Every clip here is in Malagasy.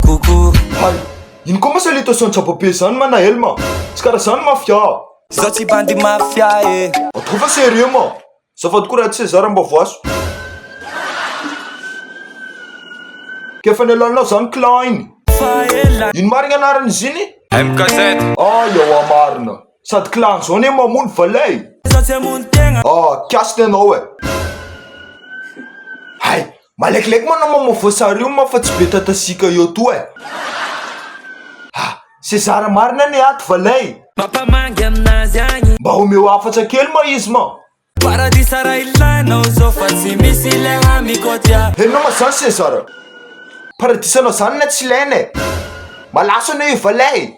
Hay, ino koa ma sa le tao centre poupée zany ma Naël ma? Tsy karaha zany mafia a! Zaho tsy bandy mafia e! Atao fa sérieux ma! Azafady koa Rad César mba voaso! Ka efa nialanao zany Klein! Fa ela! Ino marigny anarany izy igny? MKZ! Ah ewa marina! Sady Klein zao anie mamono valin e! Zaho tsy hamono tegna! Ah, kiasy ny anao e! Hay! Malekileky moa anao mamaovoa sary io ma fa tsy be tatasiaka eo toa e! Ah! Sezara marina anie ato va lay? Mampamangy aminazy agny. Mba omeo hafatra kely ma izy ma! Paradisa raha ilainao zao fa tsy misy le hamikotia. Henonao ma zany Sezara? Paradisanao zany na tsy ilaina e! Malaso anao io va lay?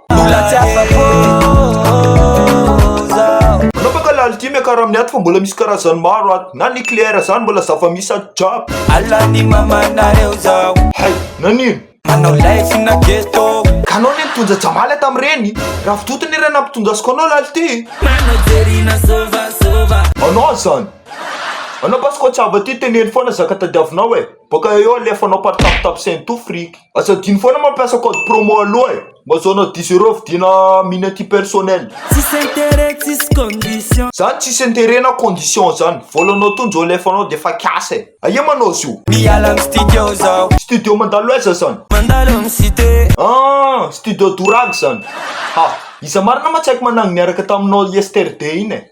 Mbola tsy afa-po zaho Manapaka lalitry miakara amin'ny aty fa mbola misy karazany maro ato Na nucléaire zany mbola zava-misy ato jiaby Alan'ny mamanareo zaho Hay! Nanino? Manao live na ghetto Ka anao ne nitonja Jamala tamin'ireny? Ravidoto ne iray nampitonjasiko anao lalitry e! Manao jery na sôvasôva Anao zany! Anao basy koa tsy hava ty teneno foana zaka tadiavinao e! Bôka eo alefanao par tape tape c'est un tout fric. Aza adino foana mampiasa code promo aloha e! Mba azahoanao dix euros vidina mine anti personnel. Tsisy intérêt tsisy condition. Zany tsisy intérêt na condition zany. Vôlanao tonjo alefanao de efa kiasa e! Aia manao zio? Miala am studio zaho. Studio mandalo aiza zany? Mandalo am cité. Ah! Studio Douragy zany. Ha! Iza marina ma tsy haiko manangy niaraka taminao yesterday iny e!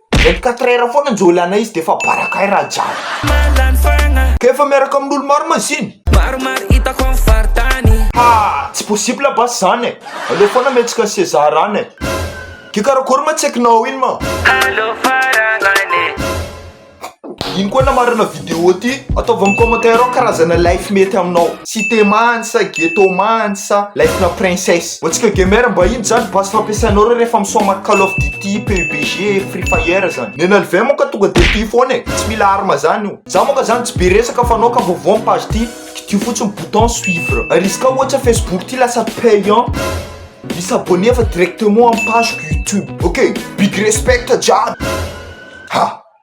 Vingt quatre heures foana njo ilana izy de efa baraka ay raha jiaby. Ka efa miaraka amin'olo maro maziny. Maromaro itako am faritany. Ha! Tsy possible basy zany e! Aleo foana mihetsika ny seza rano e! Ke karakory ma tsaikinao iny ma? Aleo faranana e! Ino koa namarana vidéo ity? Ataovy amin'ny commentaire ao karazana life mety aminao. Cité many sa ghetto many sa lifena princesse. Vao tsika gamer mba ino zany base fampiasainao reo rehefa mi soma call of duty, PUBG, free fire zany. Ny an'i lvm ka tonga dia tia foana e. Tsy mila arme zany io. Za moa ka zany tsy be resaka fa anao ka vaovao am page ty kidio fotsiny bouton suivre. Ary izy ka ohatsa facebook ty lasa payant. Mi s'abonner fa directement am pageko youtube ok. Big respect jiaby. Ha.